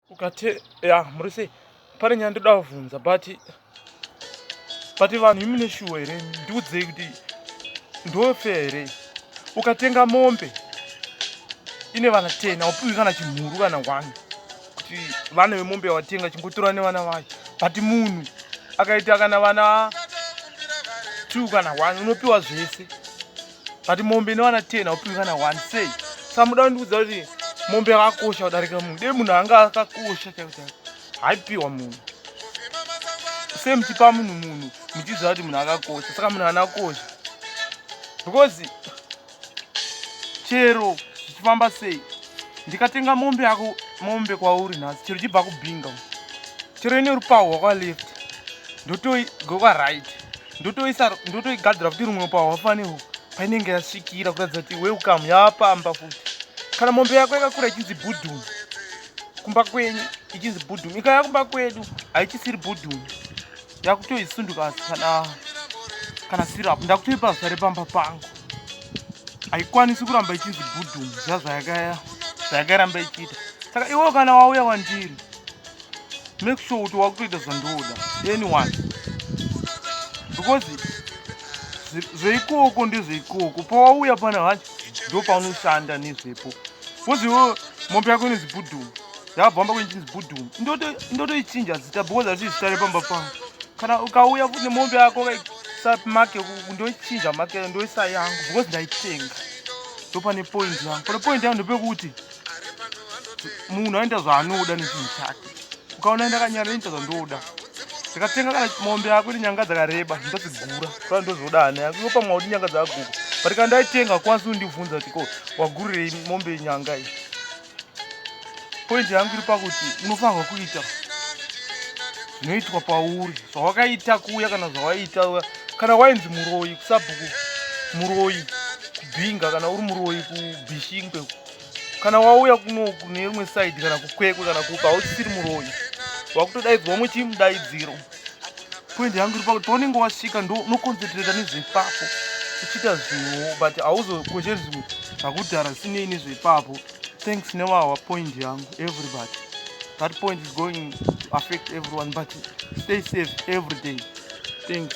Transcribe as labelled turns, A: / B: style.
A: ukate ya muri sei pane nyaya ndoda kuvhunza but but vanhu imune shuwa here ndiudzei kuti ndofe here ukatenga mombe ine vana ten aupiwi kana chimhuru kana one kuti vana vemombe yawatenga chingotora nevana vayo but munhu akaita kana vana two kana one unopiwa zvese but mombe inowana 10 haupiwi kana 1 sei sa muda kundiudza kuti mombe yakakosha kudarika munhu dei munhu anga akakosha chakuchai haipiwa munhu se muchipa munhu munhu muchiziva kuti munhu akakosha saka munhu anakosha because chero zvichifamba sei ndikatenga mombe yako mombe kwauri nhasi chero chibva kubhinga chero ine rupahwa kwaleft ndotoigokaright ndotoisa ndotoigadzira kuti rumwe pahwa fanewo painenge yasvikira kuratidza kuti welcome yaapamba futi kana mombe yako yakakura ichinzi budhum kumba kwenyu ichinzi budhum ikaya kumba kwedu haichisiri budhum yakutoisunduka kana kana sirap ndakutoipa zita repamba pangu haikwanisi kuramba ichinzi budhum zvazvayakaya zvayakairamba ichiita saka iwewo kana wauya wandiri make sure kuti wakutoita zvandoda anyone because zveikoko ndezveikoko pawauya pana hacho ndopaunoshanda nezvepo because iwo mombe yako inonzi budhum yabvamba kwenichinzi budhum ndotoichinja zita because asi zita repamba pangu kana ukauya futi nemombe yako make ndoichinja make ndoisa yangu because ndaitenga ndopane point yangu pane point yangu ndopekuti munhu aenda zvaanoda nechinhu chake ukaona ndakanyara inoita zvandoda ndikatenga kana mombe yako ine nyanga dzakareba ndotsigura kaa ndozoda ani yako yopa mwaudi nyanga dzaguku but kana ndaitenga kwanisi undibvunza kuti ko wagurirei mombe yenyanga iyi pointi yangu iri pakuti unofanirwa kuita zvinoitwa pauri zvawakaita kuya kana zvawaita kana wainzi muroyi kusabhuku muroyi kubhinga kana uri muroyi kubhishingwe kana wauya kunoku neimwe saidi kana kukwekwe kana kupa hauchisiri muroyi wakutodaidzwa muchimudaidziro poindi yangu iri pakuti paunenge wasvika ndonokonzentreta nezvepapo uchiita zvinhuwo but hauzokweshe zvimwe zvakudhara zvisinei nezvepapo thanks newawa poindi yangu everybody that point is going to affect everyone but stay safe every day thanks